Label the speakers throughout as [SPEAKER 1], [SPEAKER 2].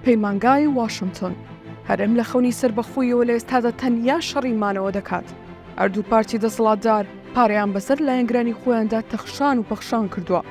[SPEAKER 1] پەیمانگای واشنتۆن هەرێم لە خەونی سەربەخۆیەوە لە ئێستادا تەنیا شەڕی مانەوە دەکات. هەردوو پارتی دەسەڵاتدار پارەیان بەسەر لایەنگرانی خۆیاندا تەخشان و پەخشان کردووە.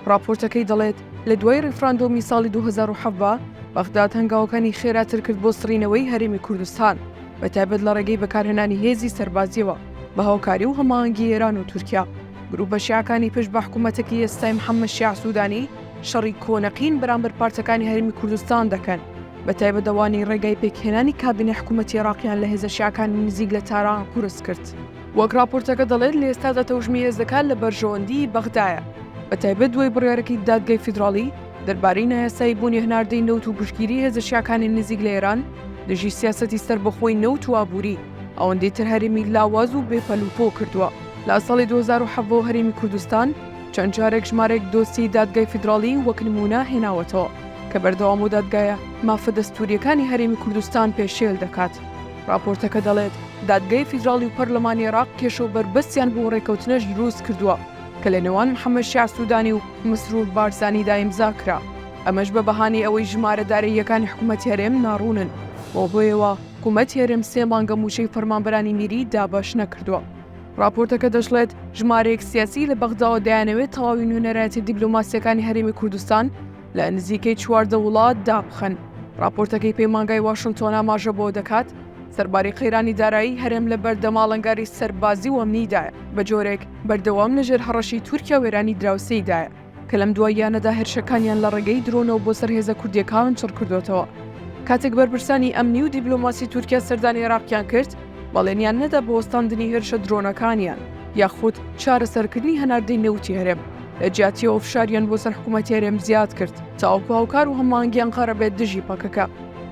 [SPEAKER 1] ڕاپۆرتەکەی دەڵێت، لە دوای ڕیفراندۆمی ساڵی دوو هەزار و حەڤدە، بەغداد هەنگاوەکانی خێراتر کرد بۆ سڕینەوەی هەرێمی کوردستان، بەتایبەت لە ڕێگەی بەکارهێنانی هێزی سەربازییەوە بە هاوکاری و هەماهەنگی ئێران و تورکیا. گرووپە شیعەکانی پشت بە حکوومەتەکەی ئێستای محەممەد شیاع سوودانی شەڕی کۆنە قین بەرامبەر پارتەکانی هەرێمی کوردستان دەکەن، بەتایبەت ئەوانەی ڕێگای پێکهێنانی کابینەی حکوومەتی عێراقیان لە هێزە شیعەکانی نزیک لە تاران قورس کرد. وەک ڕاپۆرتەکە دەڵێت، لە ئێستادا تەوژمی هێزەکان لە بەرژەوەندیی بەغدایە، بەتایبەت دوای بڕیارەکەی دادگای فیدراڵی دەربارەی نایاساییبوونی هەناردەی نەوت و پشتگیریی هێزە شیعەکانی نزیک لە ئێران دژی سیاسەتی سەربەخۆی نەوت و ئابووری ئەوەندەی تر هەرێمی لاواز و بێ پەلوپۆ کردووە. لە ساڵی دوو هەزار و حەڤە هەرێمی کوردستان چەند جارێک ژمارەیەک دۆسیەی دادگای فیدراڵی وەک نموونە هێناوەتەوە کە بەردەوام و دادگایە مافە دەستوورییەکانی هەرێمی کوردستان پێشێل دەکات. ڕاپۆرتەکە دەڵێت، دادگای فیدراڵی و پەرلەمانی عێراق کێشە و بەربەستیان بۆ ڕێککەوتنەش دروست کردووە کە لە نێوان محەمەد شیاع سوودانی و مسرور بارزانیدا ئیمزا کرا، ئەمەش بە بەهانەی ئەوەی ژمارە داراییەکانی حکومەتی هەرێم ناڕوونن، بەو هۆیەوە حکومەتی هەرێم سێ مانگە مووچەی فەرمانبەرانی میری دابەش نەکردووە. ڕاپۆرتەکە دەشڵێت، ژمارەیەک سیاسی لە بەغداوە دەیانەوێت تەواوی نوێنەرایەتیە دیبلۆماسییەکانی هەرێمی کوردستان، لە نزیکەی چواردە وڵات دابخەن. ڕاپۆرتەکەی پەیمانگای واشنتۆن ئاماژە بۆ دەکات، سەرباری قەیرانی دارایی هەرێم لە بەردەم ئاڵنگاری سەربازی و ئەمنیدایە، بە جۆرێک بەردەوام لەژێر هەڕەشەی تورکیا و ئێرانی دراوسێیدایە، کە لەم دواییانەدا هێرشەکانیان لە ڕێگەی درۆنەوە بۆ سەر هێزە کوردییەکان چڕکردۆتەوە. کاتێک بەرپرسانی ئەمنی و دیبلۆماسی تورکیا سەردانی عێراقیان کرد، بەڵێنیان نەدا بۆ وەستاندنی هێرشە درۆنەکانیان یاخود چارەسەرکردنی هەناردەی نەوتی هەرێم. لە جیاتیەوە فشاریان بۆ سەر حکوومەتی هەرێم زیاد کرد تاوەکو هاوکار و هەمانگیان قەرە بێت دژی پەکەکە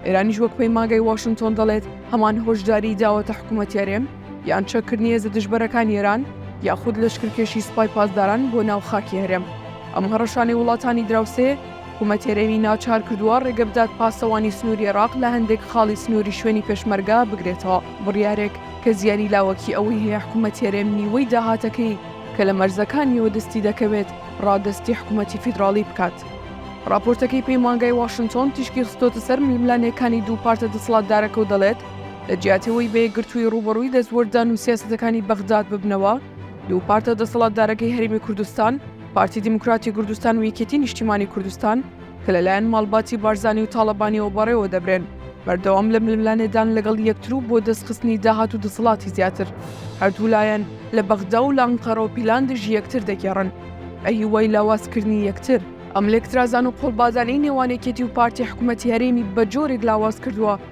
[SPEAKER 1] ئێرانیش وەک پەیماگەی واشنتۆن دەڵێت هەمان هۆشداری داوەتە حکوومەتی هەرێم یان چەککردنی هێزە دژبەرەکان ئێران یاخود لەشکرکێشی سوپای پاسداران بۆ ناو خاکی هەرێم ئەم هەڕەشانەی وڵاتانی دراوسێ حکوومەت هەرێمی ناچار کردووە ڕێگە بدات پاسەوانی سنووری عێراق لە هەندێک خاڵی سنووری شوێنی پێشمەرگە بگرێتەوە بڕیارێک کە زیانی لاوەکی ئەوەی هەیە حکوومەت هەرێم نیوەی داهاتەکەی کە لە مەرزەکانیەوە دەستی دەکەوێت ڕادەستی حکومەتی فیدراڵی بکات. ڕاپۆرتەکەی پەیمانگای واشنتۆن تیشکی خستۆتە سەر ململانێکانی دوو پارتە دەسڵاتدارەکە و دەڵێت، لە جیاتی ئەوەی بە یەکگرتووی ڕووبەڕووی دەستوەردان و سیاسەتەکانی بەغداد ببنەوە، دوو پارتە دەسەڵاتدارەکەی هەرێمی کوردستان، پارتی دیموکراتی کوردستان و یەکێتی نیشتیمانی کوردستان، کە لەلایەن ماڵباتی بارزانی و تاڵەبانیەوە بەڕێوە دەبرێن، بەردەوام لە ململانێدان لەگەڵ یەکتر و بۆ دەستخستنی داهات و دەسەڵاتی زیاتر، هەردوو لایەن لە بەغدا و لە ئەنقەرەوە پیلان دژی یەکتر دەگێڕن بە هیوای لاوازکردنی یەکتر. ئەم لێکترازان و قۆڵبادانەی نێوان یەکێتی و پارتی حکومەتی هەرێمی بە جۆرێک لاواز کردووە،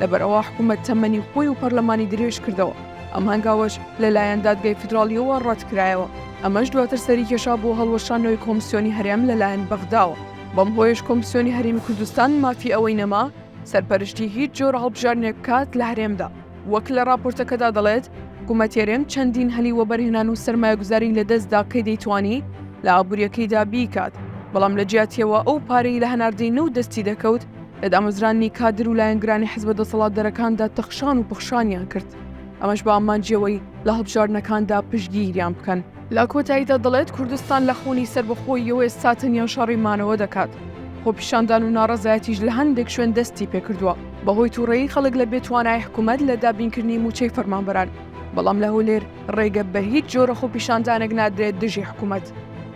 [SPEAKER 1] لەبەرئەوە حکوومەت تەمەنی خۆی و پەرلەمانی درێژ کردەوە، ئەم هەنگاوەش لەلایەن دادگای فیدراڵییەوە ڕەتکرایەوە، ئەمەش دواتر سەریکێشا بۆ هەڵوەشانەوەی کۆمسیۆنی هەرێم لەلایەن بەغداوە، بەم هۆیەش کۆمسیۆنی هەرێمی کوردستان مافی ئەوەی نەما سەرپەرشتی هیچ جۆرە هەڵبژاردنێک بکات لە هەرێمدا، وەک لە ڕاپۆرتەکەدا دەڵێت، حکوومەتی هەرێم چەندین هەلی وەبەرهێنان و سەرمایەگوزاری لەدەستدا کە دەیتوانی لە ئابوورییەکەیدا بیکات، بەڵام لەجیاتییەوە ئەو پارەی لە هەناردەی نەوت دەستی دەکەوت، لە دامەزرانی کادر و لایەنگرانی حزبە دەسەڵاتدەرەکاندا تەخشان و پەخشانیان کرد ئەمەش بە ئامانجیەوەی لە هەڵبژاردنەکاندا پشگیریان بکەن لە کۆتاییدا دەڵێت کوردستان لە خەونی سەربەخۆییەوە ئێستا تەنیا شەڕی مانەوە دەکات خۆپیشاندان و ناڕەزایەتیش لە هەندێک شوێن دەستی پێکردووە بەهۆی تووڕەیی خەڵک لە بێتوانای حکوومەت لە دابینکردنی مووچەی فەرمانبەران بەڵام لە هەولێر ڕێگە بە هیچ جۆرە خۆپیشاندانێک نادرێت دژی حکوومەت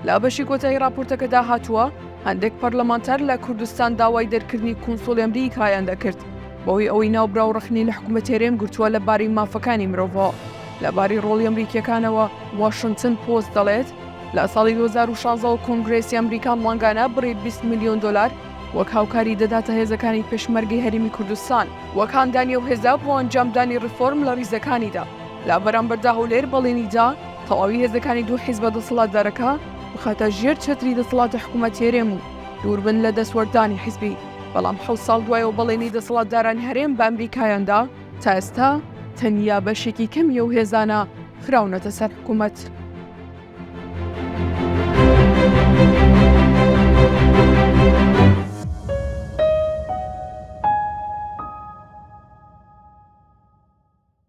[SPEAKER 1] لە بەشی کۆتایی ڕاپۆرتەکەدا هاتووە هەندێک پەرلەمانتار لە کوردستان داوای دەرکردنی کونسوڵی ئەمریکایان دەکرد بەهۆی ئەوەی ناوبراو ڕەخنەی لە حکومەتی هەرێم گرتووە لە باری مافەکانی مرۆڤەوە. لە باری ڕۆڵی ئەمریکییەکانەوە، واشنتن پۆست دەڵێت، لە ساڵی دوو هەزار و شازدە وە کۆنگرێسی ئەمریکا مانگانە بڕی بیست ملیۆن دۆلار وەک هاوکاری دەداتە هێزەکانی پێشمەرگەی هەرێمی کوردستان، وەک هاندانی ئەو هێزە بۆ ئەنجامدانی ڕێفۆرم لە ڕیزەکانیدا. لە بەرامبەردا هەولێر بەڵێنی دا تەواوی هێزەکانی دوو حیزبە دەسەڵاتدارەکە، بخاتە ژێر چەتری دەسەڵاتە حکوومەت هەرێم و دووربن لە دەستوەردانی حیزبی، بەڵام حەوت ساڵ دوای ئەو بەڵێنی دەسەڵاتدارانی هەرێم بە ئەمریکایان دا، تا ئێستا تەنیا بەشێکی کەمی ئەو هێزانە خراونەتە سەر حکوومەت.